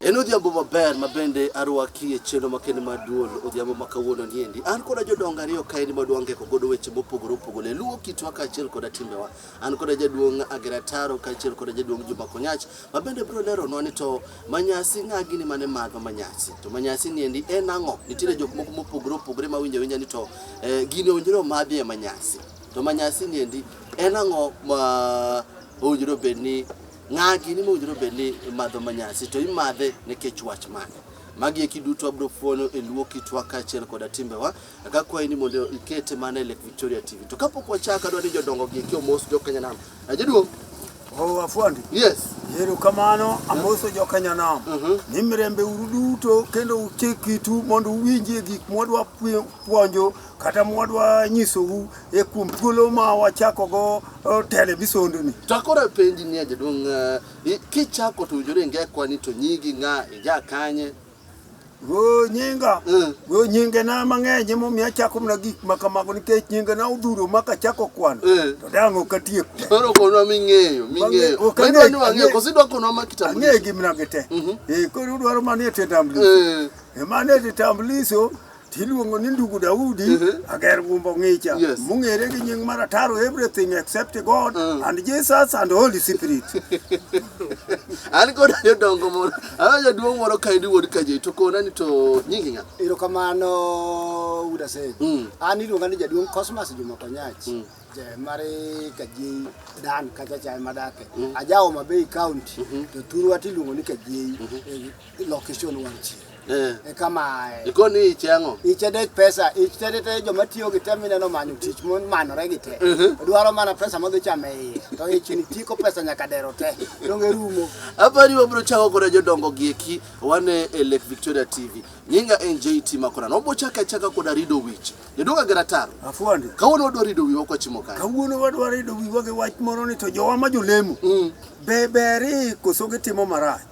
En odhiambo maber ma bende arwaki e chenro makende mar duol odhiambo ma kawuono niendi. An koda jodongo ariyo kaendi ma dwangeko godo weche mopogore opogore e luwo kitwa kaachiel koda timbewa. An koda jaduong' Agera Taro kaachiel koda jaduong' Juma Konyach ma bende biro leronwa ni to manyasi ng'a gini mane madho manyasi. To manyasi niendi en ang'o? Nitiere jok moko mopogore opogore ma winjo awinja ni to eh, gini owinjore omadhi e manyasi. To manyasi niendi en ang'o ma owinjore obed ni Ng'agi ni mowinjore bed ni imadho manyasi to imadhe nikech wach mane? Magi eki duto wabiro fuono e luo kitwa kaachiel koda timbewa. Aka kwayi ni mondo ikete mana e Lake Victoria TV. To kapok wachak adwa ni jodongo gi eki omos jo Kenya nam. Ajaduong'. Oh, afuandi. Yes. Yero kamano amoso jo Kenya nam. Uh -huh. Ni mirembe uru duto kendo uchik kitu mondo uwinjie gik mwadwa puonjo kata mwadwa nyisou e kuom thuolo ma wachako go eh, television ni. To akoro apenji ni jaduong' eh, i- kichako to winjore ingekwa ni to nyigi ng'a ija kanye Go nyinga, Mm. go nyinge na mang'eny emo mi achako mana gik ma kamago nikech nyinge na odhuro ma kachako kwano. Mm. To dang' ok atiek te. koro konwa ming'eyo ming'eyo ok Ma idwa ang'e- ni wang'eyo ang'e- koso idwa konwa ma Ang'e kitambulisho gi mna gi te. Mhm. Eh koro udwaro manie te tambulisho. Eh, E manie te tambulisho Tiluongo ni ndugu Daudi mm -hmm. ager gumbo ngicha yes. mung'ere gi nying mar ataro everything except God mm. and Jesus and Holy Spirit. An kod jodongo moro, an jaduong' moro kaendi wuod Kajei to kona ni to nyingi ng'a? Erokamano Wuda Sej. Mm. An iluonga ni jaduong' Cosmas Juma Konyach. Mm. mari kajei dan kacha chai madake mm. ajawo mabei county mm -hmm. to thurwa tiluongo ni kajei mm -hmm. Iloko ichul wang' chieng'. Eh. E kamae. Ikoni icheng'o. Iche dek pesa, iche dek te joma tiyo gi tem ineno manyo tich mon manore gi te. Mhm. Dwaro mana pesa modhi chamo e iye. To ich ni tiko pesa nyaka dero te. Donge rumo. Apani wabro chako kod jodongo gi eki wane e Lake Victoria TV. Nyinga en JT Makorano. Wabro chako achaka kod Arido Wich. Jodongo gi rataro. Afuandi. Kawuono wadwa rido wiwa kwa chimo kae. Kawuono wadwa rido wiwa gi wach moro ni to jowa ma jolemo. Mm. Be beri koso gitimo marach.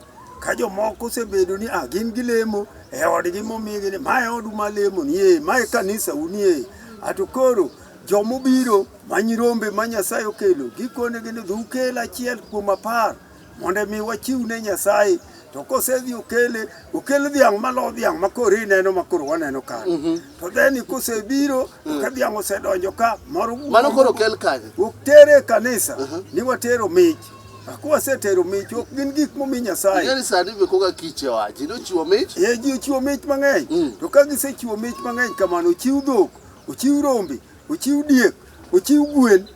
Ka jomoko osebedo ni ah, gin gilemo e odgi momigi ni mae odu ma lemo nie, mae kanisa unie, ato koro jomobiro ma nyirombe ma Nyasaye okelo gikonegi ni dhukel achiel kuom apar mondo mi wachiw ne Nyasaye to kosedhi okele okel dhiang' malo dhiang' ma koro ineno ma koro waneno ka mm -hmm. to dheni kosebiro mm. ka dhiang' osedonjo ka moro mano koro okel kanye otere kanisa uh -huh. ni watero mich Akuwa setero mich ok gin gik momi Nyasaye. Ngani sani be koga kiche wa. Ji nochiwo mich? Eh, ji ochiwo mich mang'eny. Mm. To ka gisechiwo mich mang'eny kamano, ochiw dhok, ochiw rombe, ochiw diek, ochiw gwen.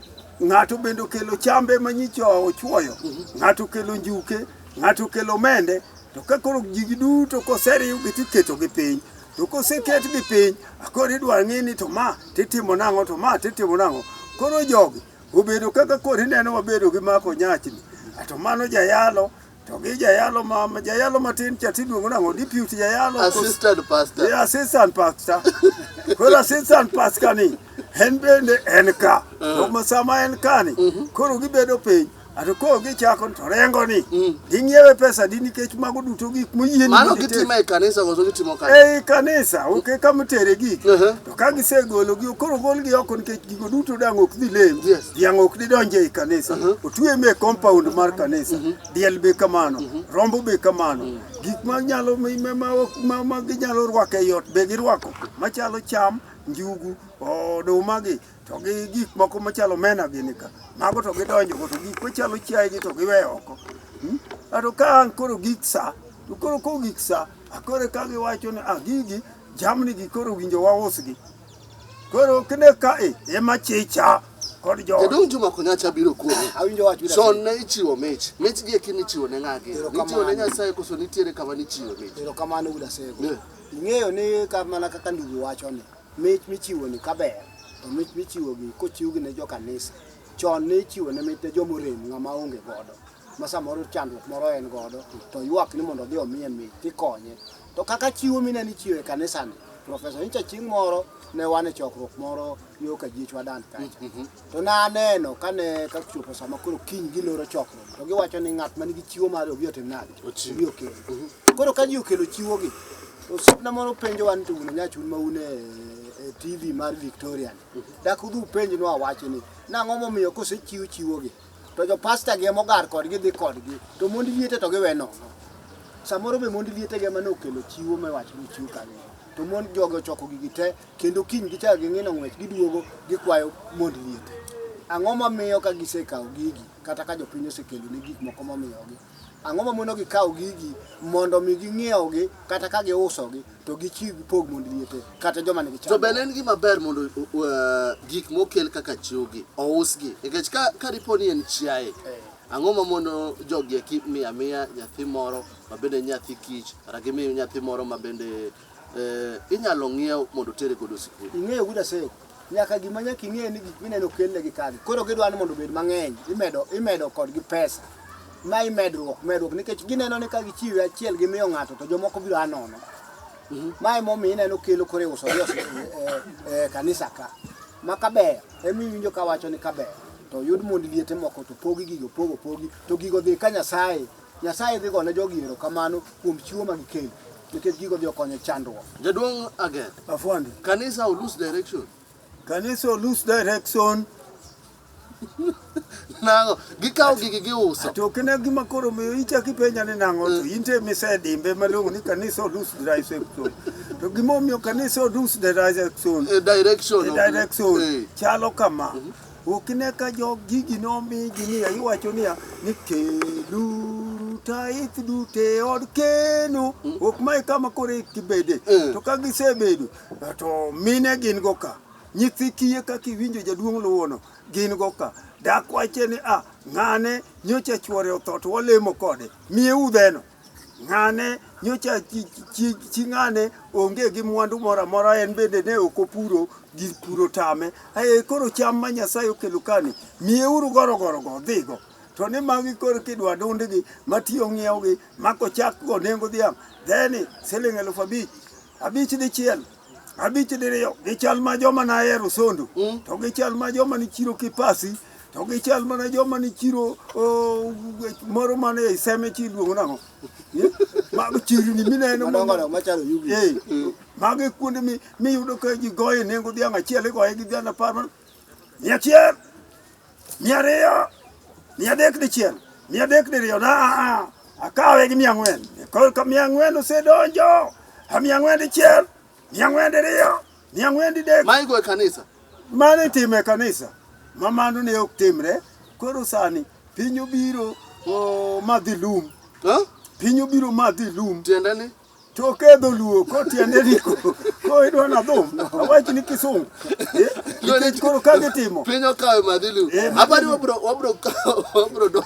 Ng'ato bende okelo chambe ma nyicho ochuoyo. Mm -hmm. Ng'ato okelo njuke, ng'ato okelo mende. To ka koro ji giduto koseriw gi tiketo gi piny. To koseket gi piny, akoro idwa ng'e ni to ma titimo nang'o to ma titimo nang'o. Koro jogi Obedo kaka koro ineno wabedo gi mako nyachni, to mano jayalo to gi jayalo ma jayalo matin cha tiluongo nang'o deputy jayalo assistant pastor yeah, assistant pastor koro assistant pastor ni en bende en ka uh. to ma sama en ka ni mhm. koro gibedo piny ato koro gichako to rengo ni mm. ging'iewe pesa di nikech mago duto gik moyieni mano gitimo e kanisa koso gitimo kanisa ei kanisa oke kama itere gik uh-huh. ka gisegologi koro golgi oko nikech gigo duto dang' ok dhi lem Yes. dhiang' ok didonj ei kanisa Uh-huh. otwe me compound mar kanisa diel be kamano rombo be kamano gik ma nyalo mi- ma- ma- ok- ma- ma ginyalo rwako ei ot be girwako machalo cham njugu oduma gi to gi gik moko machalo mena gini ka mago to gidonjogo to gik machalo chiaye gi to giweyo oko Hmm? ato ka an koro gik sa to koro ko gik sa akore ka giwacho ni ah gigi Jamni gi koro winjo wa usgi. Koro kine ka e ema chicha kod jo. Jadong Juma Konyacha biro kuomi. Awinjo wach wira. Chon ne ichiwo mich. Mich gi ekini chiwo ne ng'agi. Nichiwo ne Nyasaye koso nitiere kama nichiwo mich. Ero kamano Uda Sego. Yeah. Ing'eyo ni ka mana kaka ndugu wacho ni mich michiwo ni kaber to mich michiwo gi kochiw gi ne jo kanisa. Chon ne ichiwo ne mich ne joma orem ng'ama onge godo. Ma samoro chandruok moro en godo to ywak ni mondo odhi omiye mich tikonye. To kaka chiwo mine nichiwo e kanisani, Profesa nyicha chieng' moro ne wan e chokruok moro yo ka jiechwa dan kacha. Mm-hmm. To ne aneno kane ka chopo sama koro kiny giloro chokruok. To giwacho ni ng'at man gi chiwo mare obi otim nade? Obi okel. Mm-hmm. Koro ka ji okelo chiwogi, to osiepna moro penjo wan to un nyachun ma un e, e TV mar Victoria. Mm-hmm. Dak udhi upenjnwa wachni. Nang'o momiyo kosechiw chiwogi? to jo pasta gi emogar kodgi dhi kodgi to mond liete to giwe nono samoro be mond liete gi emane okelo chiwo me wacho ni chiw kanyo to mond jogo choko gigi te kendo kiny gichako ging'ino ng'wech giduogo gikwayo mond liete ang'o mamiyo ka gisekawo gigi kata ka jopiny osekelo ni gik moko momiyogi Ang'o mamono gi kawo gigi mondo mi ging'iewgi kata ka giusogi to gichiw gipog mond liete kata joma nigi cham. To be ne en gima ber mondo uh, gik mokel kaka chiwgi ousgi nikech ka, ka dipo ni en chiaye eh. Ang'o ma mondo jogi eki miya miya nyathi moro ma bende nyathi kich kata gimiyo nyathi moro ma bende Eh, inyalo ng'iew mondo otere godo sikul. Ing'eyo guda seko. Nyaka gima nyaka ing'e ni gik mineno kelle gi kagi. Koro gidwa ni mondo obed mang'eny, imedo imedo kodgi pesa. Ma imedruok, medruok nikech gineno ni ka gichiwe achiel gi miyo ng'ato to jomoko biro anono. Mhm. Ma emo mi ineno kelo kore uso gi e, e, kanisa ka. Ma kaber, emi winjo ka wacho ni kaber. To yud mond liete moko to pogi gigo, pogo pogi, to gigo dhi ka Nyasaye. Nyasaye dhi gone jogi erokamano kuom chiwo ma gikelo nikech gigo dhi okonyo chandruok. Jaduong' Agen. Afwandi. Kanisa olose direction. Kanisa olose direction. nango gikawo gigi giuso to kine gima koro miyo ichaki penya ni nango to in te misedimbe malongo ni kanisa odus direction to gima omiyo kanisa odus direction eh, direction eh, direction eh. chalo kama mhm. Ok ine ka jog gigi nomigi niya, iwacho niya ni keluru tait duto e od keno. Ok mae kama koro ikibede. Mm. To ka gisebedo, to mine gin go ka. Nyithi kiye kaka iwinjo jaduong' luwono, gin go ka. Dak wache ni, ah, ng'ane nyocha chwore otho to walemo kode. Miye udheno. Ng'ane nyocha chi ng'ane onge gi mwandu moro amora, en bende ne ok opuro gir puro tame. Aye koro cham ma Nyasaye okelo kani, miyeuru gorogorogo odhigo. To ni magi koro kidwa dundgi matiyo ng'iewgi ma kochakgo nengo dhiang' dheni siling' eluf abich, abich dichiel abich diriyo gi chal ma joma nahero sondo mm. to gi chal ma joma ni chiro kipasi to gi chal mana joma ni chiro moro mane e seme chi luongo nang'o mago chirni mineno mago kuonde miyudo ka ji goye nengo dhiang' achiel igoye gi dhiang' apar mia achiel mia ariyo mia adek dichiel mia adek diriyo na a a akawe gi mia ang'wen korka mia ang'wen osedonjo a mia ang'wen dichiel mia ang'wen diriyo mia ang'wen didek Maigo e kanisa. mano itimo e kanisa ma mano ne ok timre koro sani piny obiro o, madhi lum Huh? piny obiro madhi lum Tiende ni Choke e dholuo kotiende riko ko idwa na dhum awach ni kisungu eh, nikech koro ka gitimo piny okawe madhilu Eh, madhilu. abani wabro wabro kawo- wabro do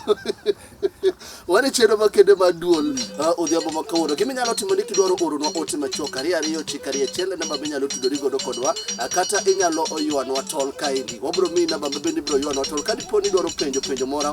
wani chendo makende mar duol ah, odhiambo ma kawuono gima inyalo timo ni kidwaro oronwa ote machuok ariyo ariyo chik ariyo achiel e namba minyalo tudori godo kodwa ah, kata inyalo ywanwa tol kaendi wabro miyi namba ma bende ibro ywanwa tol ka dipo ni idwaro penjo penjo moro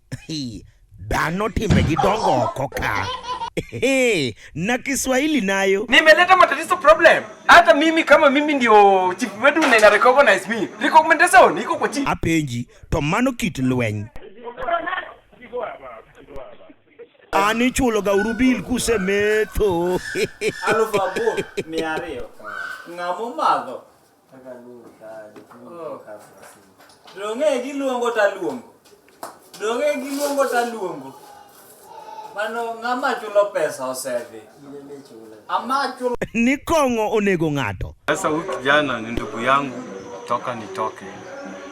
Hii, dhano timbegi dongo oko ka. Ehe, na Kiswahili nayo. Nimeleta matatizo problem. Hata mimi kama mimi ndio chief wetu na ina recognize me. Recommendation iko kwa chief. Apenji, to mano kit lweny. An ichuloga uru bil kusemetho. alufu aboro mia ariyo ng'ama omadho Dong'e giluongo taluongo. Dong'e giluongo taluongo. Mano ng'ama chulo pesa osedhi. Ama chulo ni kong'o onego ng'ato. Sasa huyu kijana ni ndugu yangu toka nitoke.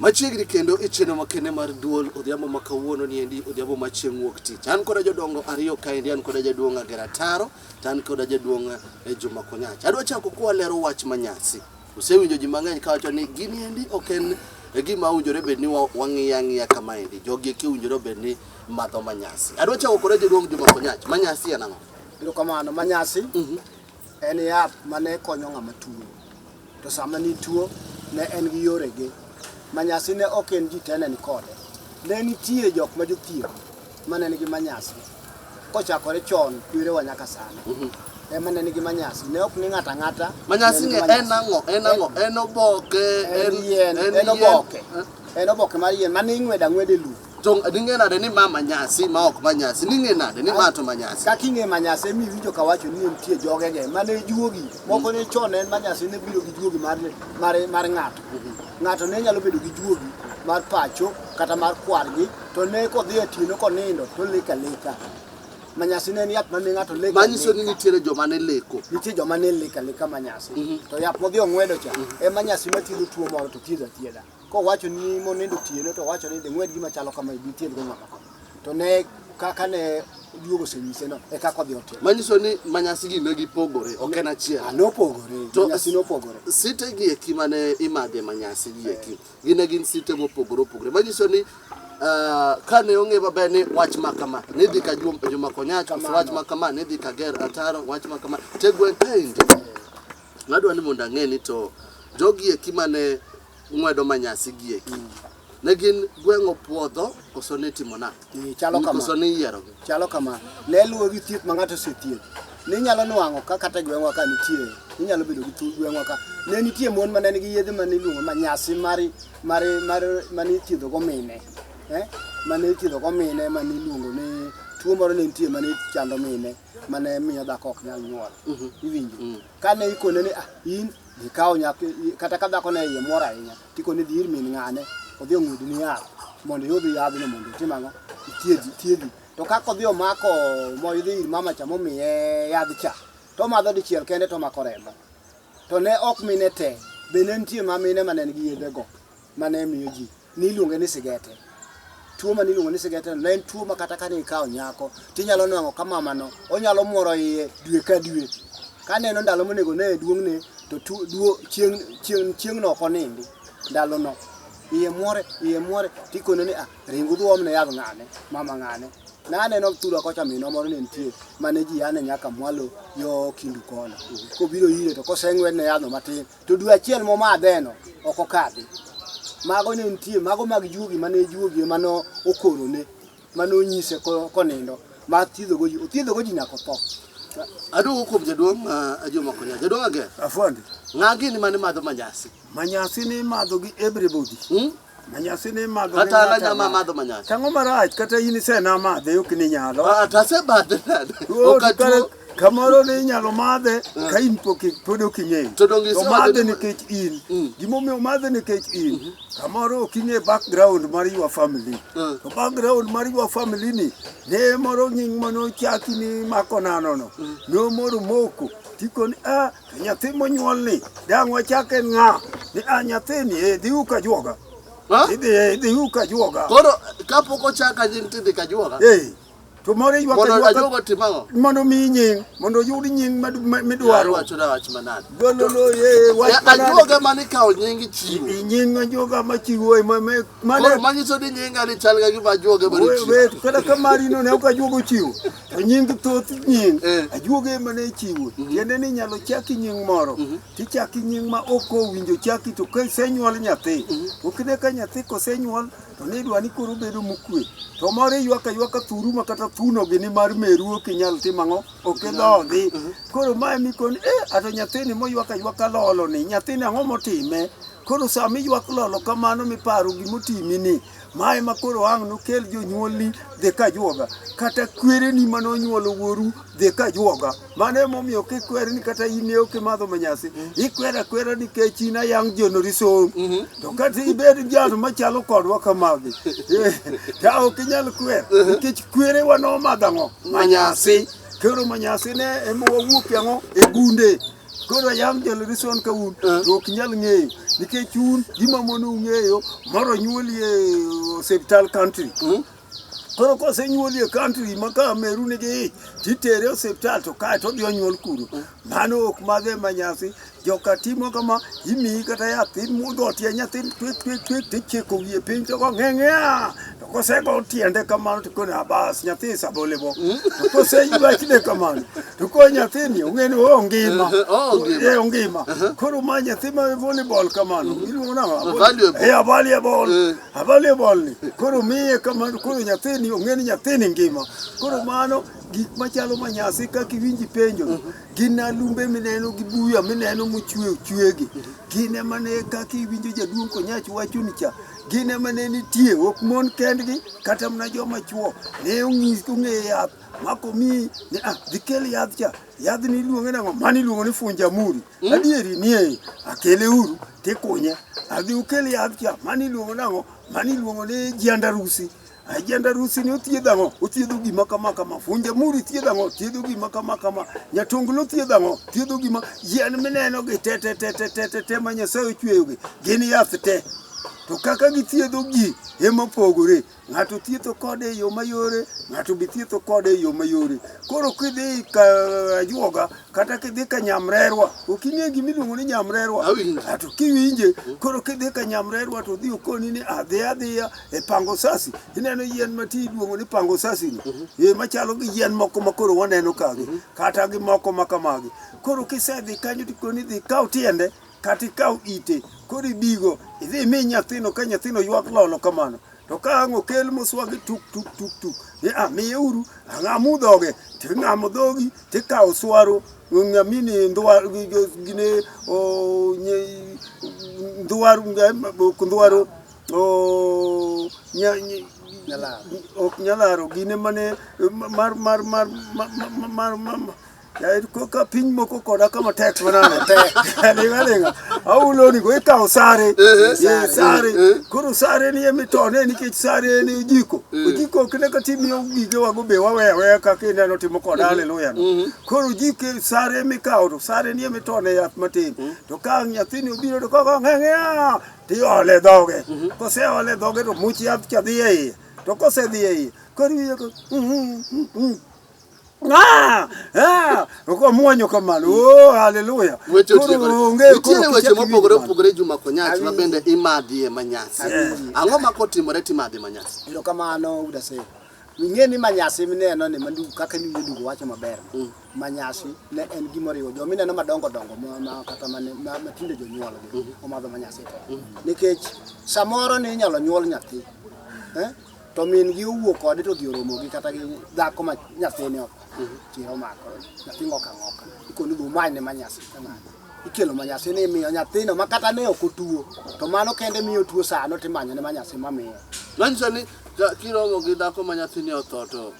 Machiegni kendo e chenro makende mar duol odhiambo ma kawuono ni endi odhiambo ma chieng' wuok tich. An koda jodongo ariyo kaendi an koda jaduong' Agera Taro to an koda jaduong' e Juma Konyach. Adwa chako kwalero wach manyasi. Usewinjo ji mang'eny kawacho ni gini endi ok en e gima owinjore bed ni wa- wang'iyo ang'iya kama endi. Jogi eki owinjore bed ni madho manyasi. Adwa chako koda jaduong' Juma Konyach. Manyasi en ang'o? Erokamano. Manyasi en yath mane konyo ng'ama tuo. To sama nituo, ne en gi yorege. Manyasi ne ok en ji te ne nikode. Ne nitie jok ma jothieth ma ne nigi manyasi. Kochakore chon kwerewa nyaka sani. Mhm. Ema ne nigi manyasi. Ne ok ni ng'ata ng'ata. Manyasi ne en ang'o? En ang'o? En oboke. En yien. En oboke. En oboke mar yien. Mane ing'weda ng'wede lum. To ning'e nade ni ma manyasi ma ok manyasi? Ning'e nade ni ma to manyasi? Kaka ing'e manyasi emi winjo ka wacho ni nitie jogege mane juogi. Moko ne chon en manyasi ne biro gi juogi mar mar mar ng'ato. Ng'ato ne nyalo bedo gi juogi mar pacho kata mar kwargi to ne kodhi e tieno konindo to leka leka. Manyasi ne en yath mane ng'ato leka. Manyiso ni nitiere joma ne leko. Nitie joma ne leka leka manyasi. To yath modhi ong'wedo cha e manyasi mathiedho tuo moro to thiedho athiedha. Kowacho ni monindo otieno to owacho ni ding'wed gima chalo kama dichiel go ng'ama kama. To ne kaka ne duogo osenyise no e kaka odhi otimo. Manyiso ni manyasi gi ne gipogore, ok en achiel. Ah, nopogore, To- manyasi nopogore. Site gi eki mane imadhe manyasi gi eki, gin ne gin site mopogore opogore. Manyiso ni ah, kane ong'e maber ni wach ma kama ne dhi ka Jum- Juma Konyach, koso wach ma kama ne dhi ka Ger Ataro, wach ma kama te gweng' kaendi. Adwa ni mondo ang'e ni to jogi eki mane ng'wedo manyasi gi eki mm. ne gin gweng'o puodho koso ne timo na mm, chalo kama koso ne yiero gi chalo kama ne luwo gi thieth ma ng'ato osethieth ne nyalo nwang'o ka kata gweng'wa ka nitie ne nyalo bedo gi tu gweng'wa ka ne nitie mon ma ne nigi yedhe ma ne iluongo manyasi mari mari mari ma ne ithiedho go mine eh ma ne ithiedho go mine ma ne iluongo ni tuo moro ne nitie ma ne chando mine mane miyo dhako ok nyal nyuol mhm. iwinjo mhm. kane ikone ni ah in ikawo nyathi kata ka dhako ne iye mor ahinya tikone dhi ir min ng'ane odhi ong'ud ni yath mondo iyud yadhno mondo itim ang'o ithiedhi thiedhi to kaka odhi omako moidhi ir mama cha momiye yadh cha to omadho dichiel kende to omako remo to ne ok mine te be ne nitie ma mine ma ne nigi yedhego ma ne miyo ji ni iluonge ni sigete. Tuo ma niluongo ni sigete ne en tuo ma kata ka ne ikawo nyako to inyalo nwang'o ka mamano onyalo mworo iye dwe ka dwe. Ka neno ndalo monego ne e duong'ne to tu- duo- chieng' chieng' chieng'no ok onindi ndalono. Iye mwore iye mwore tikone ni ah ring udhi uomne yadh ng'ane mama ng'ane. Ne aneno thura kocha minwa moro ne nitie mane ji yane nyaka mwalo yo kindu kono. Kobiro ire to koseng'wedne yadhno matin To dwe achiel momadheno ok okadhi. Mago ne nitie, mago mag juogi mane juogi ema no okorone, mane onyise ko- konindo, ma thiedhogo ji, othiedhogo ji nyaka otho. Aduogo kuom jaduong' ma Ajomo Konya. Jaduong' Ager, Afwandi, ng'a gini mane madho manyasi? manyasi ni imadho gi everybody. Hmm? Manyasi ni madho Kata minyalo alanya ma chamo. madho manyasi. Tang'o marach kata in isena madhe ok ni nyalo. Ah, to asemadhe nade? Ruoth, Ok atuo. kare- Kamoro ni inyalo madhe ka in pok i- pod ok ing'eyo. To donge isewacho madhe ni- nikech in. Mm. Gimomiyo omadhe nikech in. Kamoro ok ing'e background mar your family. Mm. To background mar your family ni ne moro nying mane ochaki ni mako nano no. Nomoro moko. Tikoni ah Nyathi monyuolni dang' wachak en ng'a? Ni a nyathini eh, dhi uka juoga. Ha? Idhi eh, idhi uka juoga. Koro kapok ochak anying tidhi ka juoga. Eh. To moro iywa ka Mondo juoga ajuoga otim ang'o? mondo mi nying, mondo oyud nying mad- ma- Dwaro midwaro. wacho na wach manade. Gololo eh wach Ya, manade. Ajuoga mane ikawo nying chiwo. I- Nying ajuoga machiwo eh, ma- ma- Koro mane manyiso ni nyinga ni chal ga gima ajuoga mane we- chiwo. we- kata ka marino ne ok ajuoga ochiwo. To nying thoth nying eh. ajuoga ema ne chiwo mhm. tiende ni inyalo chaki nying moro mhm. tichaki nying ma ok owinjo chaki to ka isenyuol nyathi mhm. to kine ka nyathi kosenyuol to nidwa ni koro bedo mokwe to moro iywaka ywaka thuru ma kata thuno gi ni mar meru ok inyal tim ang'o ok idhodhi koro ma emikoni e eh, ato nyathini moywaka ywaka lolo ni nyathini ang'o motime koro sama iywak lolo kamano miparo gimotimi ni Ma ema koro ang' nokel jonyuolni dhi ka juoga, kata kwereni ma nonyuolo wuoru dhi ka juoga. Mano emomiyo kikwer ni kata in ne ok imadho manyasi, ikwer akwera nikech in ayang' jonori som. To kata ibed jal machalo kodwa kamagi, eh, ta ok inyal kwer nikech kwerewa nomadho ang'o? Manyasi. Koro manyasi ne ema wawuokie ang'o? E gunde. Koro yam nyalore son ka un to ok nyal ng'eyo nikech un gima mono ung'eyo moro nyuoli e osiptal country koro kosenyuoli e country ma ka meru nigi ich titere e osiptal to kae to odhi onyuol kuro mano ok madhe ma nyasi joka timo kama imiyi kata yath imudho tie nyathi twek twek twek tichiko wiye piny to go ng'eng'ea To kosego tiende kamano to kone abas nyathi sabole bo. Hmm? To koseywa kide kamano to ko nyathini ong'e ni oh ngima. Oh, eh ngima. Uh-huh. Koro ma nyathi ma volleyball kamano hmm. iluongo nang'o? Eh avalie ball. Eh. Avalie ball ni. Koro miye kamano koro nyathini ong'e ni nyathini ngima. Koro mano gik machalo manyasi kaka iwinji penjo mhm. gin alumbe mineno gi buya mineno mochwe chwegi mhm. gin emane kaka iwinjo jaduong' konyach wachoni cha gin ema ne nitie ok mon kendgi kata mana joma chuo ne ong'is ong'e yath mako mi ni ah dhikel yath cha yath ni iluonge nang'o mani iluongo ni funjamuri hmm? adieri nie akele uru tikunye adhi ukel yath cha mani iluongo nang'o mani iluongo ni jiandarusi Ajenda rusi ni othiedh ang'o? Othiedho gima kama kama. Funja muri thiedho ang'o? Thiedho gima kama kama. Nyatunglo thiedho ang'o? Thiedho gima yien mineno gi te te te te te te te ma Nyasaye ochweyo gi. Gin yath te. To kaka githiedho gi ema pogore. Ng'ato thietho kode e yo mayore, ng'ato be thietho kode e yo mayore. Koro kidhi ka ajuoga kata kidhi ka nyamrerwa, ok ing'e gima iluongo ni nyamrerwa. Awinjo. Ato kiwinje, koro kidhi ka nyamrerwa to odhi okoni ni adhi adhiya e pango sasi ineno yien ma ti iluongo ni pango sasi ni mhm. e machalo gi yien moko ma koro waneno ka gi mhm. kata gi moko ma kamagi koro kisedhi kanyo to koni dhi kaw tiende kata ikaw ite koro ibigo idhi imi nyathino ka nyathino ywak lolo kamano to ka ang' okel moswagi tuk tuk tuk tuk ni a ah, miye uru ang'amu ah, dhoge ting'amo dhogi tikawo swaro ng'amini ndwaro gine ndwaro ndwaro Oh, nya, ny, Nyalaro. ok nyalaro gine mane mar mar mar mar mar- mar- mar mar yaani ko- ka piny moko koda kama tek manano tek alinga linga auloni go ikawo sare Eh, Ye, sare eh. koro sare ni emitone nikech sare en ojiko ojiko kinde ka timiyo gige wago be waweya weya kaka ineno timo koda haleluya no koro ojiko sare mikawo to sare ni emitone yath matin to ka nyathini obiro to koko ng'eng'ea tiole dhoge mhm. koseole dhoge to much yath cha dhi e iye to kosedhi e iye koro iye Ah, ah, uko mwonyo kamano. Oh, haleluya. Weche otieko. Nitiere weche mopogore opogore Juma Konyach ma bende imadhie manyasi. Ang'o ma kotimore timadhi manyasi? Ero kamano udase. Ing'e ni manyasi mineno ni mandu kaka ni yudo wacho maber. Mm. ma nyasi ne en gima oriwo jo mineno madongo dongo ma, ma kata ma, ma, ma tinde jonyuolgi omadho ma nyasi to nikech samoro ne inyalo nyuol nyathi eh? to min gi owuok kode to odhi oromo gi kata gi dhako ma nyathine ok tiro omako nyathi ng'oka ng'oka ikoni dhi umany ne ma nyasi kamano ikelo ma nyasi ni imiyo nyathino ma kata ne ok otuo to mano kende miyo tuo sano timanyo ne ma nyasi mamiyo Manyiso ni ka- kiromo gi dhako ma nyathini otho to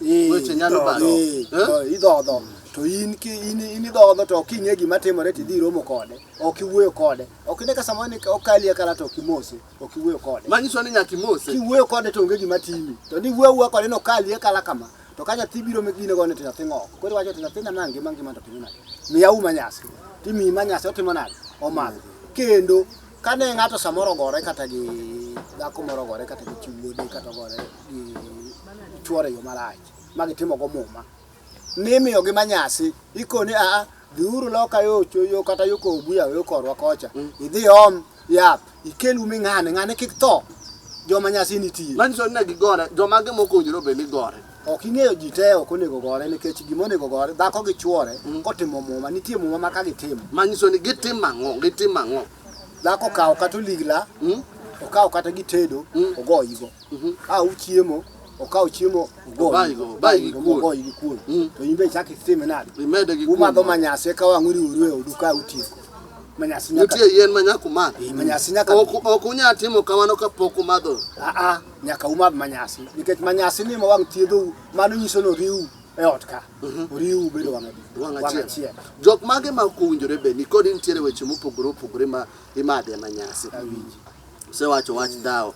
Eh, weche nyalo to, balo. eh, Eh? to idhodho to in ki in in idhodho to ok ing'e gima timore to idhi romo kode ok iwuoyo kode ok ine ka samoro ni okali e kala to ok imose ok iwuoyo kode Manyiso ni nyaka imose. kiwuoyo kode to onge gima timi to ni wuoyo wuoyo kode no kali e kala kama to ka nyathi biro megine gone to nyathi ng'ok koro iwacho to nyathina ma ngima ngima to timo nade miya uma nyasi timiyi ma nyasi otimo nade omadho kendo kane ng'ato samoro ogore kata gi dhako moro ogore kata gi chi wuode kata ogore gichuore yo marach ma gitimogo muma mimiyogi manyasi ikoni aa dhiuru loka yo yo kata yo kobuya yo korwa kocha mm. idhi om yath ikel ume ng'ane ng'ane kik tho joma nyasi nitie manyiso ni ne gigore joma gi mokonjore obed ni gore ok ing'eyo ji te ok onego gore nikech gima onego gore dhako gi chuore mm. kotimo muma nitie muma ma ka gitimo manyiso ni gitimo ang'o gitimo ang'o dhako kawo kata oligla mm. okawo kata gitedo ogoyigo Mhm. Ka uchiemo, okawo chiemo ogoyi gi kuon. Mhm. To in be ichak itime nade? Umadho manyasi eka wang' uriuru e odu ka utieko. Manyasi nyaka nitie yien ma nyaka umadh. Eh, manyasi nyaka ok unyal timo kamano ka pok umadho. Ah, ah, nyaka umadh manyasi nikech manyasi ni ma wang' thiedhou mano nyiso ni oriu e ot ka mhm. oriu bedo wang' achiel. Jok mage ma ok owinjore be nikod nitiere weche mopogore opogore ma imadhe manyasi. Osewacho wach dhawo.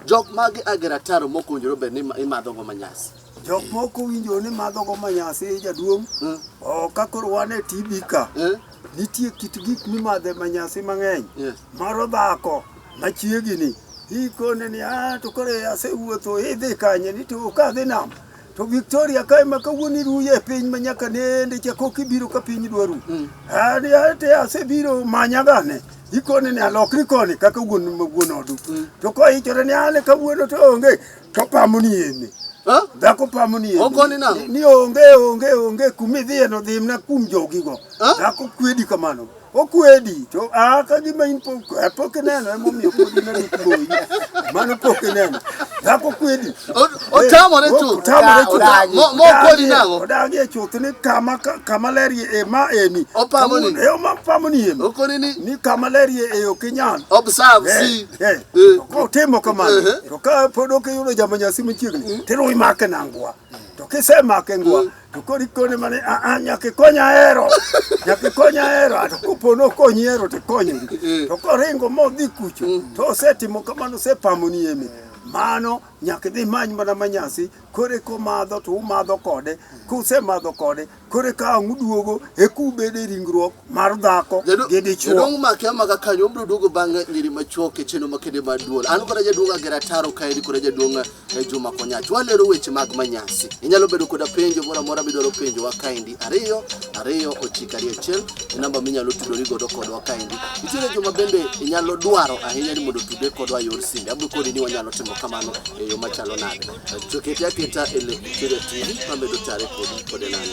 Jok mage agero ataro mok owinjore obed ni ima- imadhogo manyasi. Jok moko winjo ni madhogo manyasi jaduong'. Mm. Oh, ka koro wan e TB ka, Eh? nitie kit gik mimadhe manyasi mang'eny. Yes. Moro dhako machiegini ikone ni ah, to koro asewuotho idhi kanye ni to kadhi nam to Victoria kae ma kawuono iruye e piny ma nyaka nende cha kok ibiro ka piny dwaru mm. ani ate asebiro manyagane ikone ni alokri koni kaka wuon ma wuon odu mm. to ko ichore ni ale kawuono to onge to pamo ni ene dhako pamo ni ni onge onge onge kumidhiye no dhimna kum jogigo dhako kwedi kamano okwedi to a ka gima in pok eh, pok ineno ema omiyo pok ineno kuoyi mano pok ineno dhako kwedi otamore tu otamore tu mo kwedi nango odagi e chuth ni kama kama ler ye e ma eni opamo ni e ma pamo ni em okoni ni ni kama ler ye e ok inyal observe eh, si eh, eh. ko temo kama to ka pod ok yudo jamanyasi machiegni mm. tiro imake nangwa to kisemake ngwa mm. To koni kone mane a a nyaka ikony ahero. Nyaka ikony ahero. Ato kopo no konyi hero to ikonyo. To koringo modhi kucho to osetimo kamano osepamo ni eme. Mano nyaka idhi many mana manyasi kore komadho to umadho kode kusemadho kode kore ka ang' uduogo e kubede e ringruok mar dhako Jadu- gi dichwo Jaduong' make amaka kanyo obiro duogo bang' ngiri machuok e chenro makende mar duol. An kora jaduong' Agera Taro kaeri kora jaduong' e Juma Konyach. Walero weche mag manyasi. Inyalo bedo koda penjo moro amora midwaro penjowa kaendi ariyo ariyo ochiko ariyo achiel e namba minyalo tudori godo kodwa kaendi. Nitiere joma bende inyalo dwaro ahinya ni mondo tudre kodwa yor simbe. Abiro koni ni wanyalo timo kamano e yo machalo nade. Chokete aketa e lep Kira TV mamedo tare kodi kode nano.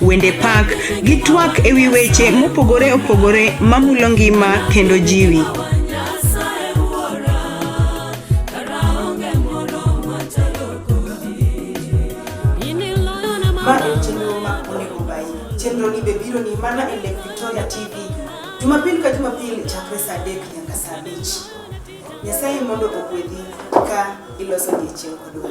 wende pak, gi twak e wi weche mopogore opogore mamulo ngima kendo jiwi. Ma en chenro ma onego obayi. Chenroni be bironi mana e Lake Victoria TV Jumapil ka Jumapil chakre saa adek nyaka saa abich. Nyasaye mondo ogwedhi ka iloso odiechieng' kodwa.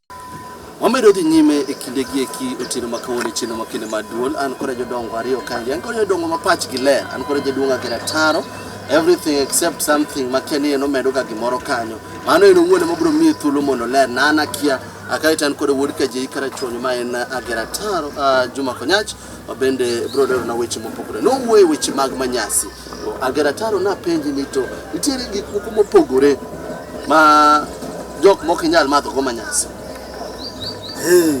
Wamedo dhi nyime e kinde gi eki otieno ma kawuono e chieno ma kinde ma duol an kore jodongo ariyo kangi an kore jodongo ma pach gi ler an kore jaduong' agera taro everything except something ma kia ni en omedo ga gimoro kanyo mano en owuon ema biro miye thuolo mondo ler na an akia akae to an kore wuod kajei karachuonyo ma en agera taro uh, Juma Konyach bende bro lero na weche mopogore nowuoye weche mag manyasi agerataro napenji ni to nitiere gik moko mopogore ma jok moko inyal madho go manyasi hey,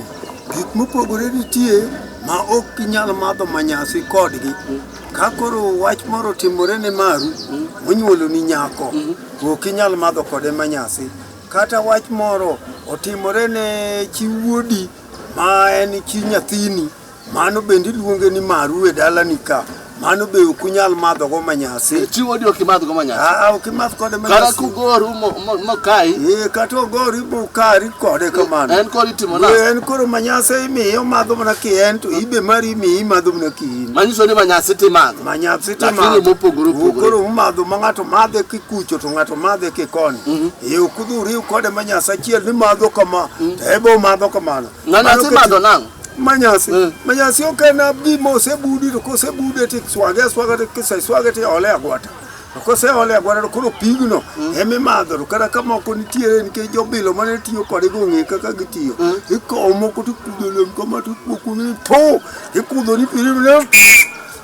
gik mopogore nitie ma ok inyal madho manyasi kodgi mm. ka koro wach moro timore ne maru mm. onyuolo ni nyako mm -hmm. ok inyal madho kode manyasi kata wach moro otimore ne chiwuodi mm Ma en chi nyathini, mano bende iluonge ni maru e dalani ka. Mano be ok unyal madhogo manyasi. Chiwo odi ok imadhgo manyasi. Aa, ok imadh kode Kata manyasi. kugori mo- mo- mokayi, Ee, kata ogori bukari kode kamano. en kod itimo na. Ee, En koro manyasi imiye omadho mana ki en to ibe mari imiye imadho mana ki in. Manyiso ni manyasi timadho. Manyasi to Lakini imadho. mopogore opogore. Koro umadho ma ng'ato madhe kikucho to ng'ato madhe kikoni. Ye ok udhi uriw kode manyasi achiel ni madho kama to ebe omadho kamano. Ng'ano Mano asemadho keti- nang'o? Manyasi. Mm. Manyasi ok en abdi ma osebudi to kosebude to iswage aswaga to kiseswage to iole e agwata. To koseole e agwata to koro pigno ema imadho to kata ka moko nitiere nikech jobilo mane tiyo kode gong'e kaka gitiyo. Ikawo moko to ikudho lem kama to ikwo kuno ni po ikudho ni pirino ne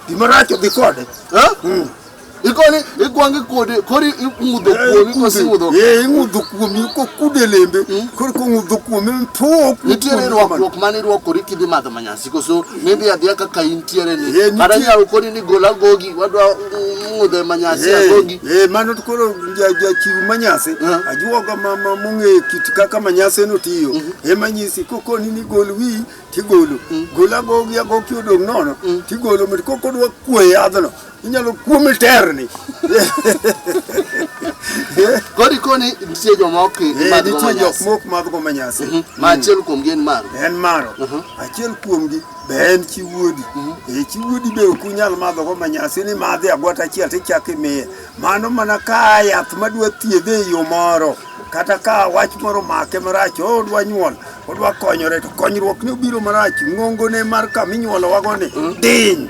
gimarach odhi kode. Ha? Mm. ikoni ikwangi kode kori ing'udho eh, kuomi kosi ing'udho eh, eh ing'udho kuomi kokude lembe hmm? kori kong'udho kuomi mtuo nitiere rwakruok mane irwakori kidhi madho manyasi koso nidhi adhiya kaka intiere ni eh, kata nyalo koni ni gol agogi wadwa ng'udho e manyasi agogi eh mano to koro jachiw manyasi ajuoga mama mong'e kit kaka manyasi no tiyo mhm. ema nyisi kokoni ni gol wi tigolo hmm. gol agogi agoki odong' nono hmm. tigolo mit kokodwa kwe yadhno inyalo kuome terni kodi koni nitie joma ok nitie jok mok madhgo ma nyasi mhm. ma achiel kuomgi en maro en maro mhm. achiel kuomgi be en chi wuodi mhm. e chi wuodi be ok unyal madhogo ma nyasi ni madhi agwata achiel tichak imiye mano mana ka yath madwa thiedhe e yo moro kata ka wach moro make marach odwa nyuol odwa konyore to konyruok ni obiro marach ngongone mar kama inyuolowago ni diny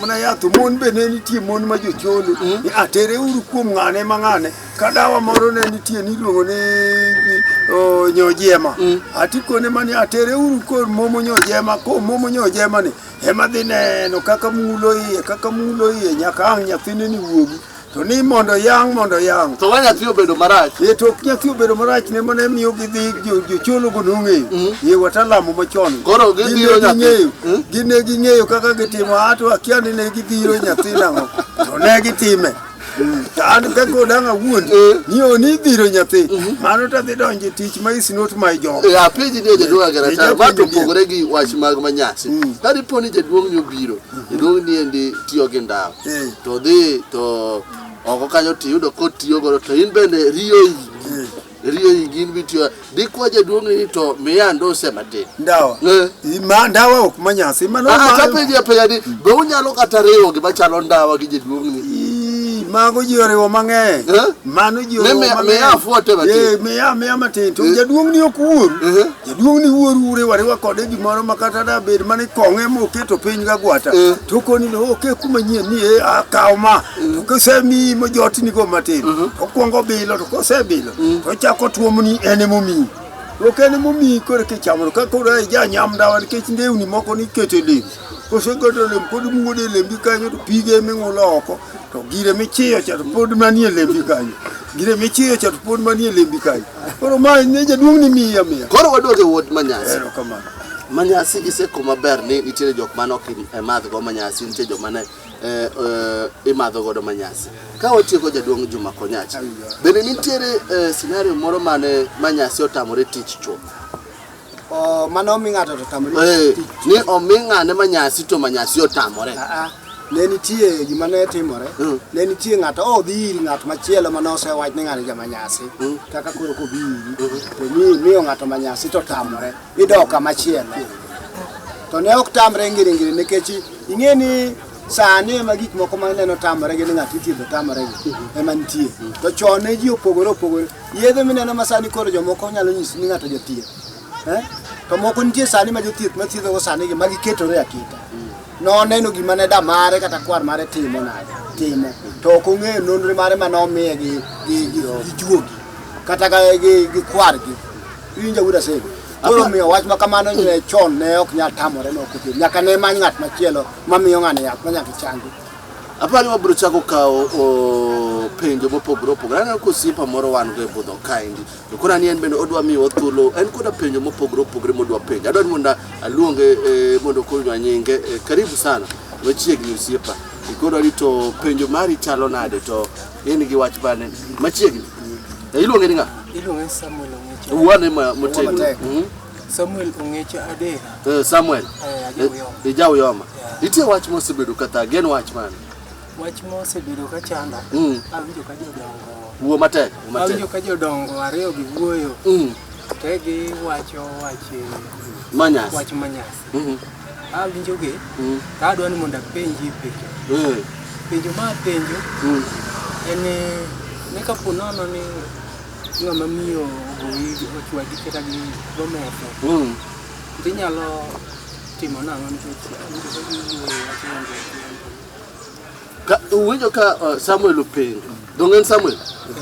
Mana yath mon be ne nitie mon ma jocholo mm. ni atere uru kuom ng'ane ma ng'ane ka dawa moro ne nitie niluongo ni nyojema mm. atikone mani atere uru kod momo nyojema ko momo nyojema ni ema dhi neno kaka mulo iye kaka mulo iye nyaka ang' nyathine ni wuogi To ni mondo yang' mondo yang'. To wa nyathi obedo marach. Ye to nyathi obedo marach ne mane miyo gidhi jocholo go nong'eyo. Mm. Ye watalamu machon. Koro gidhiro nyathi. Mm. Gine ging'eyo kaka gitimo ato akia ni ne gidhiro nyathi nang'o. To ne gitime. Mm. To an ka kodang' awuon eh. ni oni dhiro nyathi mm-hmm. mano to adhi donjo tich ma is not my job. Eh, Apenji ni jaduong' agera ta ma to pogore gi wach mag manyasi. Ka dipo ni jaduong' ni obiro Iluong ni endi tiyo gi ndawa eh. to dhi to oko kanyo to iyudo kotiyo godo to in bende riyo iyi eh. riyo iyi gin bitiyo dikwa jaduong' ni to miya ndose matin ndawa eh. ma ndawa ok manyasi mano ah, ka penjo ya penjo ni be unyalo kata riwo gima chalo ndawa gi jaduong' ni mago ji oriwo mang'eny mano ji oriwo mang'eny miya afuote matin miya miya matin to jaduong' ni ok wuoru Jaduong' ni wuoru uriwa riwa kode gimoro ma kata da bed mane kong'e moketo piny ga gwata eh. to koni ni oke oh, kuma nyien ni e akaw ma mm. to kosemi mo jotni go matin mm-hmm. to kwongo bilo to kosebilo mm. to chako tuomni ene momi ok ene momi kore kichamo ka koro ai ja nyam dawa nikech ndewni moko ni kete lem kosegodo lem pod muode lembi kanyo to pige ming'ulo oko to gire michiyo cha to pod manie lembi kanyo gire michiyo cha to pod manie lembi kanyo Koro ma ne jaduong' ni miya miya. Koro waduoge wuod Manyasi. Erokamano. Manyasi iseko maber ni nitiere jok mane ok i- e madh go Manyasi, nitie jok mane eh, eh, imadho godo Manyasi. Ka watieko jaduong' Juma Konyachi, bende nitiere eh, scenario moro mane Manyasi otamore tich chuth? Oh, mane omi ng'ato to tamore Eh, tich. ni omi ng'ane ma nyasi to ma nyasi otamore Ah, ah. ne nitie gima ne timore Mm. ne nitie ng'ato oh, odhi ir ng'at machielo mane osewach ni ng'ani jama nyasi Mm. kaka koro kobi iri to mi miyo ng'ato ma nyasi to tamore idok kama chielo to ne ok tamre ngiringiri nikech ing'e ni sani ema gik moko maneno tamore gi ni ng'ato ithiedho tamore gi ema nitie to chon ne ji opogore opogore Yedhe mineno ma sani koro jomoko nyalo nyisi ni ng'ato jathieth. Eh? To moko nitie sani ma jothieth ma thiedhogo sani gi ma giketore aketa. Noneno gima ne da mare kata kwar mare timo nade timo. To ok ong'eyo nonro mare ma nomiye gi gi gi gi juogi kata ga gi gi kwargi. Iwinja wuda sego. Koro miyo wach ma kamano ne chon ne ok nyal tamore ne ok othiedh. Nyaka ne many ng'at machielo ma miyo ng'ani yath ma nyaka changi. Aparo ni wabiro chako kawo o, penjo mopogore opogore. Aneno ka osiepa moro wan go e budho kaendi. To koro ani en bende odwa miyowa thuolo. En koda penjo mopogore opogore modwa penjo. Adwaro ni mondo aluonge eh, mondo okonywa nyinge. Eh, karibu sana. Machiegni osiepa. Ikoro ni to penjo mari chalo nade to in gi wach bane machiegni. Eh, Iluonge ni ng'a? Iluonge Samuel Ong'echa. Wuane ma motegno. Matek. Mhm. Samuel Ong'echa Adera. Eh, Samuel. Eh, Ajauyoma. Eh, Ajauyoma. Yeah. Nitie wach mosebedo kata gen wach mane? Wach mosebedo ka chanda. Mm. Awinjo ka jodongo. Wuo matek, wuo matek. Awinjo ka jodongo ariyo gi wuoyo. Mm. Te gi wacho wach manyas. Wach manyas. Mm -hmm. Awinjo gi. Mm. Ta adwa ni mondo apenji penjo. Mm. Penjo ma penjo. Mm. En ni kapo nono ni Ng'ama miyo ogoyi ochwadi kata gi gometho. Mm. Be inyalo timo nang'o nikech awinjo ka giwuoyo wacho ni onge tiende. Ka, uwinjo ka uh, Samuel openjo donge en Samuel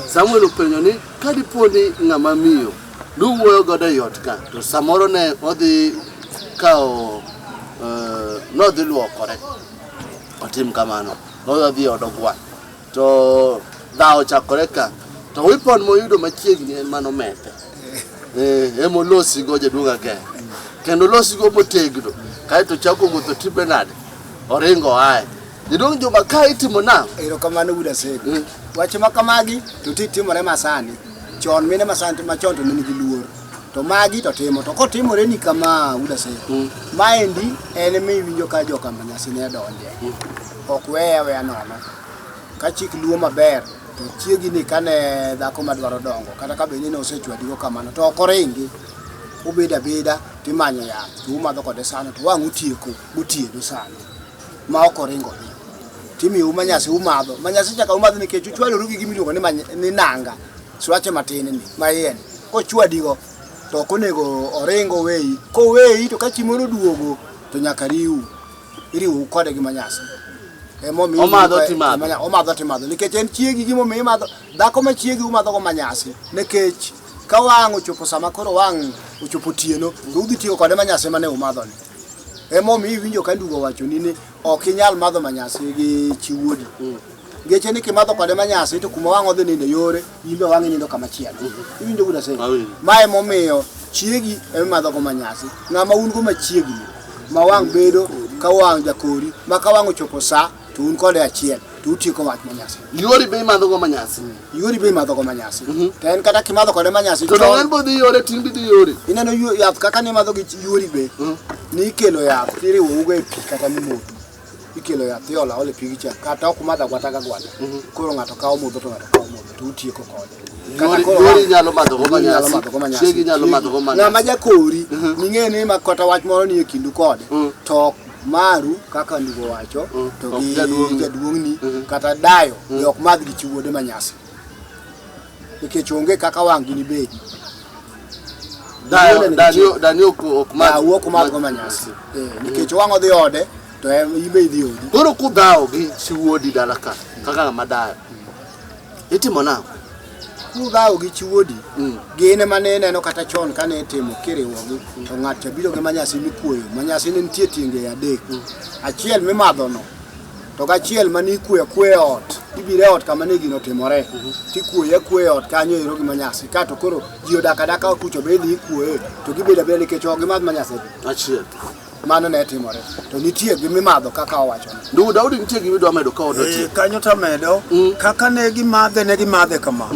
Samuel openjo ni ka dipo ni ng'ama miyo nuwuoyo godo e ot ka to samoro ne odhi kawo uh, nodhi luokore otim kamano nodhi od ogwal To dhawo chakore ka. To weapon moyudo machiegni en mano mete. Eh, emo losi go jaduong' ageng. Kendo losi go motegno. Kaeto chako wuotho tipe nade? Oringo ae. Jaduong' Juma ka itimo nang'o? Erokamano wuod Asego. Mm. Wache ma kamagi to ti timore masani. Chon mine masani machon to ne nigi luor. To magi to timo. To kotimore ni kama wuod Asego. Mm. Maendi en miwinjo ka joka manyasi ne donje. Ok weye aweya nono. Ka chik luwo maber to chiegi ni kane dhako madwaro dongo kata ka bende ne osechwadigo kamano to ok oringi obedo abeda to imanyo yath to umadho kode sano to wang' utieko gotieno sano ma ok oringo dhi timiu manyasi umadho manyasi chaka umadho nikech uchwadoru gi gima iluongo ni many- ni nanga swache matin ni ma iye ni kochwadigo to ok onego oringo weyi koweyi to ka chieng' moro oduogo to nyaka riu iriwou kode gi manyasi emomiyo Omadho iluonge timadho. manya- omadho timadho nikech en chiegi gimomiyo imadho dhako ma chiegi umadhogo manyasi nikech ka wang' ochopo sama koro wang' ochopo otieno to udhi tiyo kode manyasi mane umadhoni emomiyo iwinjo ka ndugo wachoni ni ok inyal madho manyasi gi chi wuodi Geche ni kimadho kode manyasi to kuma wang' odhi nindo yore, in be wang'i nindo kama chielo. Iwinjo kuda sasa. Mae momiyo chiegi ema madho go manyasi. Ng'ama un go machiegni ma wang' bedo ka wang' jakori ma ka wang' ochopo sa to un kode achiel to utieko wach manyasi. Yori be imadho go manyasi. Yori be imadho go manyasi. To en kata kimadho kode manyasi To donge en bodhi yore tin bidhi yore. ineno yu- yath kaka nimadho gi chi- yuori be ni ikelo yath tiriwo ugo e pi kata mimodho ikelo yath iolo aola e pigi cha kata ok madh agwata ga gwata koro ng'ato kawo modho to ng'ato kawo modho to utieko kode Kata koro Nyori wang'- nyalo madhogo Nyori nyalo manyasi. madhogo manyasi. Chiegi nyalo madhogo manyasi. ng'ama jakori ming'e ni ma kata wach moro nie kindu kode to ok maru kaka ndugo wacho to Ok gi jaduong'ni. jaduong'ni kata dayo be ok madh gi chi wuode manyasi nikech onge kaka wang' gini bedi dani ok madhgo manyasi eh, nikech wang' odhi ode to ibe idhi odi koro kudhawo gi chi wuodi dala ka kaka ng'ama dayo itimo nang'o kudhawo gi chi wuodi mm. gin ema ne ineno kata chon kane itimo kiriwogi to ng'at cha biro gi manyasi mikuoyo manyasi ne nitie tienge adek mm. achiel mimadhono to gachiel mane ikwe akwe ot ibiro e ot kama ne gino timore tikwoye akwe e ot kanyo ero gi manyasi kato koro ji odak adaka kucho be idhi ikwoye to gibedo abeda nikech ok gimadh manyasi achiel mano ne timore to nitie gi mimadho kaka owacho ndugu daudi nitie gima idwa medo ka ot otiek Eh, kanyo tamedo Mm. kaka ne gimadhe ne gimadhe kama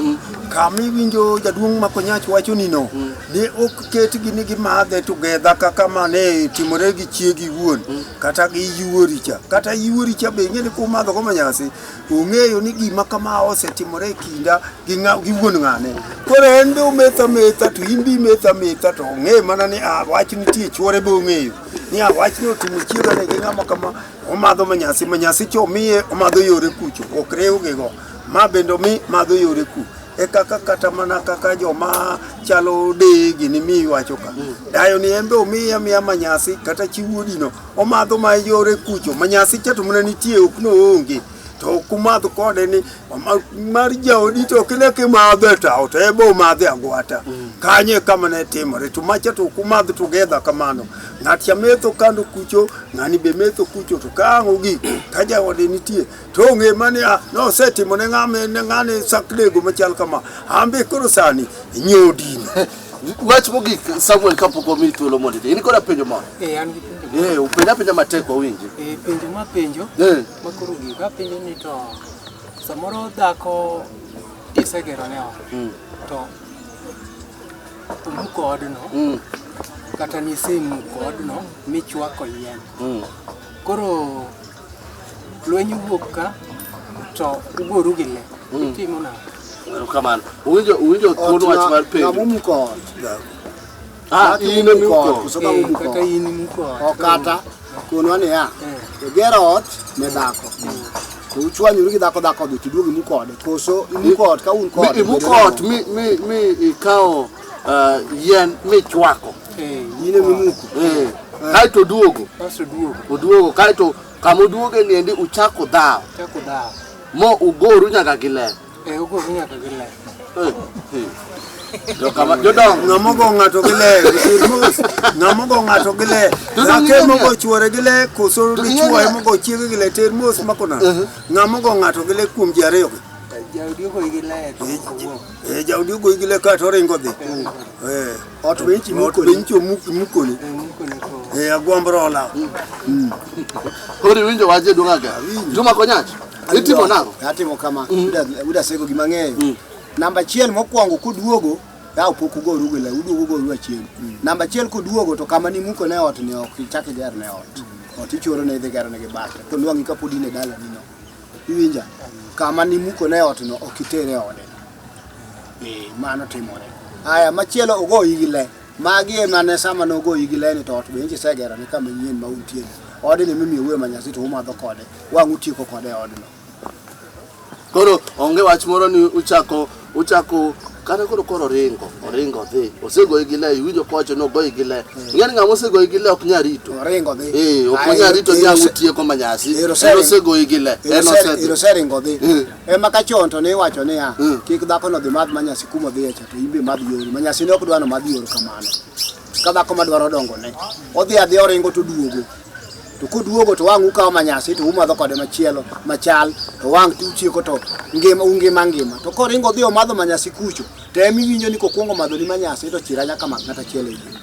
kama iwinjo jaduong' makonyach wacho nino ne ok ketgi ni gimadhe together kaka mane timore gi chiegi wuon kata gi yuori cha kata yuori cha be ing'eni kumadho go manyasi ong'eyo ni gima kama osetimore e kinda gi ng'a- gi wuon ng'ane koro en be ometho ametha to in be imetho ametha to ong'e mana ni ah, wach nitie chuore be ong'eyo ni ah, wach ni otimo chiegane gi ng'ama kama omadho manyasi manyasi cha omiye omadho yore kucho ok rewgigo ma bende omi madho yore ku e kaka kata mana kaka joma chalo de gini mi iwacho ka mm. dayo ni embe omiye amiya manyasi kata chiwuodino omadho ma yore kucho manyasi chato mana nitie ok noonge to kumadh kode ni mar jaodi to kile kimadhe tawo to ebe omadhe agwata mm. kanye kama ne timore to macha to kumadh together kamano ng'at cha metho kando kucho ng'ani be metho kucho to ka ang' ogik ka jaode nitie To ong'e ma niya, nosetimo ne ng'ama en ng'ane saknego machal kama. An be koro sani nyodini. Wach mogik Samuel kapok omi thuolo mondo idhi. In koda penjo moro. Eh, an gi penjo. Eh, upenja apenja matek wawinji. Eh, penjo ma penjo. Eh. Ma koro gik apenjo ni to samoro dhako isegero ne ot. Mm. To umuko odno. Mm. Kata nisemuko odno michwako yien. Mm. Koro Lweny wuok ka to ugoru gi le. Itimo na. Erokamano. Uwinjo uwinjo thuon wach mar penjo. Namuko ot. Ah, in ema imuko ot. Koso ka Eh, muko Kaka ot. in imuko ot. Okata konwa niya, Eh. igero ot ne dhako. To uchwanyuru gi dhako dhako dhi tiduog imuko ode. Koso imuko ot ka un Mi- kode. Imuko ot mi mi mi ikawo uh, yien michwako eh, yine mimuko eh, kaeto oduogo oduogo kaeto kama oduoge ni endi uchako dhawo mo ugoru nyaka gi ler eh, ng'amogo ng'ato gi le ng'amogo ng'ato gi le zake mogo chuore gi le koso dichuo emogo chiege gi le ter mos makona ng'amogo ng'ato gi le kuom ji ariyogi Eh, jaodi ogoyi gi leka to oringo dhi Eh, ot be nchi ot be nchi omuk- imukoni Eh, agwamb rola Koro iwinjo waje duong' aga. Juma Konyach, itimo nang'o? atimo kama uda sego gima ng'eyo namba achiel mokwongo kuduogo yaw pok ugoru gila uduogo ugoru achien namba achiel kuduogo to kama nimuko ne ot ni ok ichak iger ne ot ot ichoro ne idhi gero ne gi bata to nwang'i kapod in e dala nino Iwinja? Kama nimuko ne otno ok itere e ode. Eh, mano timore. Aya machielo ogoyi gi le. Magi ema ne sama nogoyi gi le ni to ot be inchi segero ni kama nyien ma untie. Odni mimiyo wuoyo ma nyasi to umadho kode. Wang' utieko kode e odno. Koro onge wach moro ni uchako Uchako kata koro koro oringo oringo odhi osegoyi gi le iwinjo kowacho ni ogoyi gi le ing'e ni ng'ama osegoyi gi le ok nyal rito Oringo dhi. Eh, ok onyal rito ni ang' utieko manyasi en osegoyi gi le en osedhi Oseringo dhi. Mm. Ema ka chon to ne iwacho niya, Mm. kik dhakono dhi madh manyasi kuma odhiye cha to in be madh yori. Manyasi ne ok dwa ni omadh yori kamano. ka dhako madwaro dongone odhi adhi oringo to duogo to koduogo to wang' ukawo manyasi to umadho kode machielo machal to wang' to uchieko to ngima ungima ngima to koringo odhi omadho manyasi kucho to ema iwinjo ni kokwongo madho ni manyasi to chira nyaka mak ng'ata chielo e yie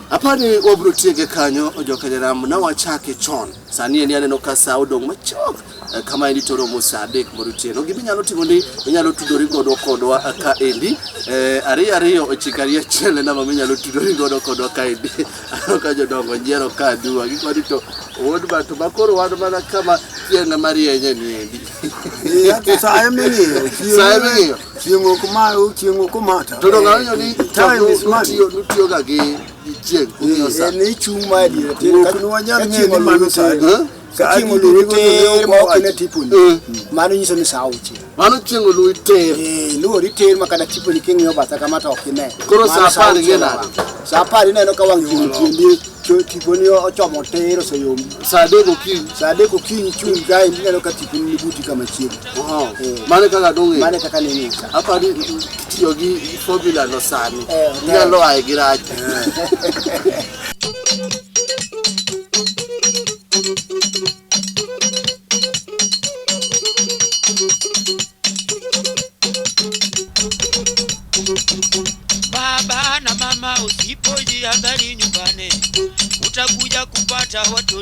apani wabro tiege kanyo ojokenyeramu na wachake chon Sani endi aneno ka sa odong' machok eh, kama endi to romo sa adek mar otieno. Gima inyalo timo ni inyalo tudori godo kodwa eh, ka endi eh, ariyo ariyo ochiko ariyo achiel en namba minyalo tudori godo kodwa ka endi. Aneno ka jodongo nyiero ka aduwa gik mani to owod ba to makoro wan mana kama chieng' marienye ni endi. Yaani saa eming'iyo Saa eming'iyo. chieng' ok ma chieng' ok omata To dongo aneno ni Time is money. nutiyo nutiyoga gi en ichung' ma e diere tir ka nwa nyal ng'eyo ni mano sa adi ka chieng' oluwi tir ma ok ine tiponi mano nyiso ni sa auchiel mano chieng' oluwi tir luwori tir ma kata tiponi king'iyo batha kama to ok ine koro sa apar ing'e nade sa apar ineno ka wang' chieng' tiendi tiponi ochomo tir oseyombi sa adek okinyi sa adek okinyi chung' kae ineno ka tiponi ni buti kama chiegni Oh, mano e kaka dong'e mano e kaka nini apa ni tiyo gi formula no sani Eh, okay. inyalo aye gi rach Baba na mama, usipojihadhari nyumbani, utakuja kupata watoto